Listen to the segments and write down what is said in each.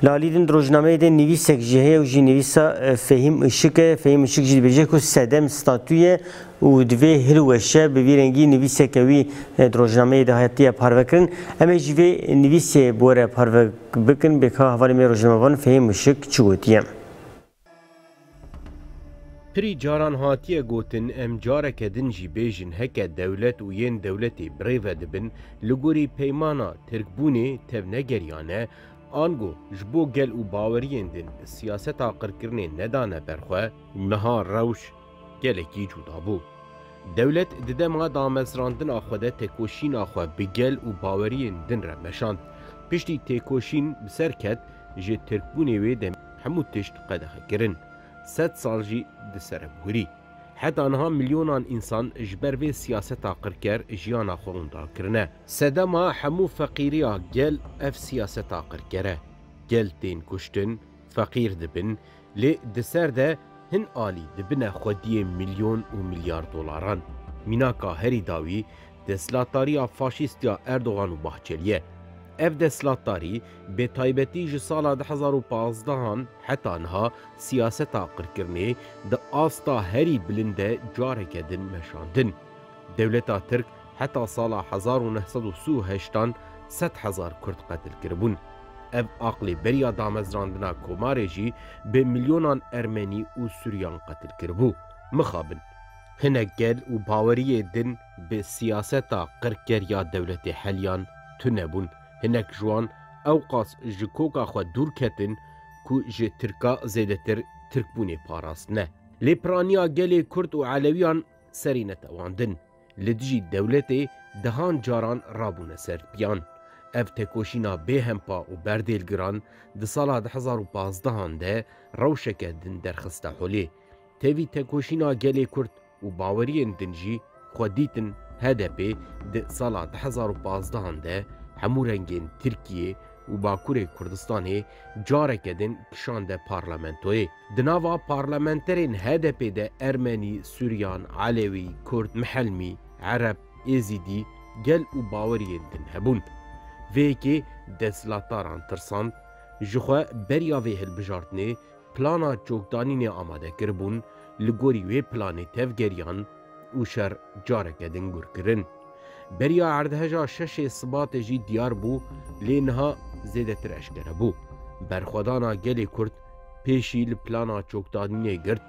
Lalîdin di rojnameyê de nivîsek jî heye û jî nivîsa Fehîm Işik e. Fehîm Işik jî dibêje ku sedem statû ye û divê hilweşe. Bi vî rengî nivîseke wî di rojnameyê de hatiye parvekirin. Em ê jî vê nivîsê bi we re parve bikin. Bêka hevalên me rojnamevan Fehîm Işik çi gotiye? Pirî caran hatiye gotin, em careke din jî bêjin heke dewlet û yên dewletê birêve dibin, li gorî peymana Tirkbûnê tevnegeriyane, ango ji bo gel û baweriyên din siyaseta qirkirinê nedane ber xwe, niha rewş Gelekî cuda bû. Dewlet di dema damezrandina xwe de tekoşîna xwe bi gel û baweriyên din re meşand. Piştî têkoşîn bi ser ket, ji Tirkbûnê wê demê hemû tişt qedexe kirin. Sed sal jî di sereb hûrî. Heta niha milyonan însan ji ber vê siyaseta qirker jiyana xwe windar kirine. Sedema hemû feqîriya gel ev siyaseta qirker e. Gel tên kuştin, feqîr dibin, Lê di ser de hin alî dibine xwediyê milyon û milyar dolaran. Mînaka herî dawî desthilatdariya faşîst ya Erdogan û Bahçelî ye. Ev desthilatdarî bi taybetî ji sala du hezar û pazdeh an heta niha siyaseta qirkirinê di asta herî bilind de careke din meşandin. Dewleta Tirk, Heta sala hezar û neh sed û si û heşt an sed hezar Kurd qetil kiribûn. Ev aqlê beriya damezrandina komarê jî bi milyonan Ermenî û Suryan qetil kiribû. Mixabin. Hinek gel û baweriyê din bi siyaseta qirkeriya dewletê heliyan tune bûn. Hinek ji wan ewqas ji koka xwe dûr ketin ku ji Tirka zêdetir Tirkbûnê parastine. Lê piraniya gelê Kurd û Elewiyan serî netewandin. Li dijî dewletê dehan caran rabûne ser piyan. Ev tekoşîna bê hempa û berdêlgiran di sala du hezar û pazdeh an de rewşeke din derxiste holê. Tevî tekoşîna gelê Kurd û baweriyên din jî xwe dîtin hdp di sala du hezar û pazdeh an de hemû rengên Tirkiyê û Bakurê Kurdistanê careke din kişande parlamentoyê. Di nava parlamenterên HDP'ê de Ermenî, Suryan, Elewî, Kurd, Mihelmî, Ereb, Êzîdî, gel û baweriyên din hebûn. Vê yekê desthilataran tirsand, ji xwe beriya vê hilbijartinê plana çokdanînê amade kiribûn, li gorî wê planê tevgeriyan, û şer careke din gûr kirin. Beriya erdheja şeşê Sibatê jî diyar bû lê niha zêdetir eşkere bû. Berxwedana gelê Kurd pêşî li plana çokdanînê girt,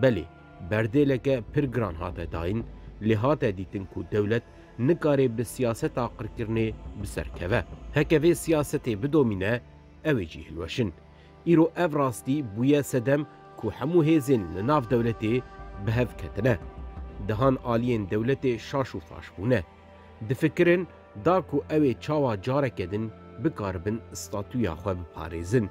belê berdêleke pir giran hate dayîn lê hate dîtin ku dewlet nikarê bi siyaseta qirkirinê bi ser keve. Heke vê siyasetê bidomîne ew ê jî hilweşin. Îro ev rastî bûye sedem ku hemû hêzên li nav dewletê bi hev ketine. Dehan aliyên dewletê şaş û faş bûne. Difikirin da ku ew ê çawa careke din bikaribin statuya xwe biparêzin.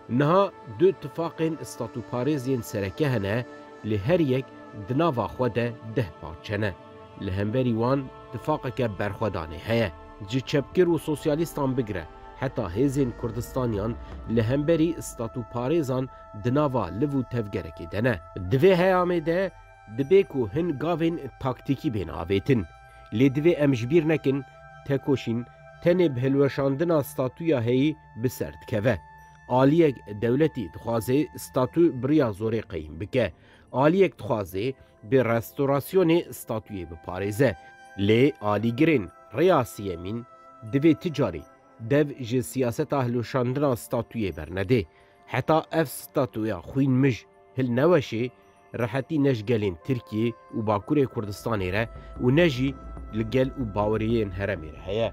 Niha du tifaqên statuparêz yên sereke hene lê her yek di nava xwe de deh parçe ne. Li hemberî wan tifaqeke berxwedanê heye. Ji çepgir û sosyalîstan bigire heta hêzên Kurdistaniyan li hemberî statûparêzan di nava liv û tevgerekê de ne. Di vê heyamê de dibe ku hin gavên taktîkî bên avêtin. Lê divê em ji bîr nekin tekoşîn tenê bi hilweşandina statûya heyî bi ser dikeve. Aliyek dewletî dixwaze statû bi riya zorê qeyîm bike. Aliyek dixwaze bi restorasyonê statuyê biparêze. Lê alîgirên rêya siyemîn divê ti carî dev ji siyaseta hilweşandina statuyê bernedê. Heta ev statuya xwîn mij hilneweşê, rehetî ne ji gelên Tirkiyê û Bakurê Kurdistanê re û ne jî li gel û baweriyên heremê re heye.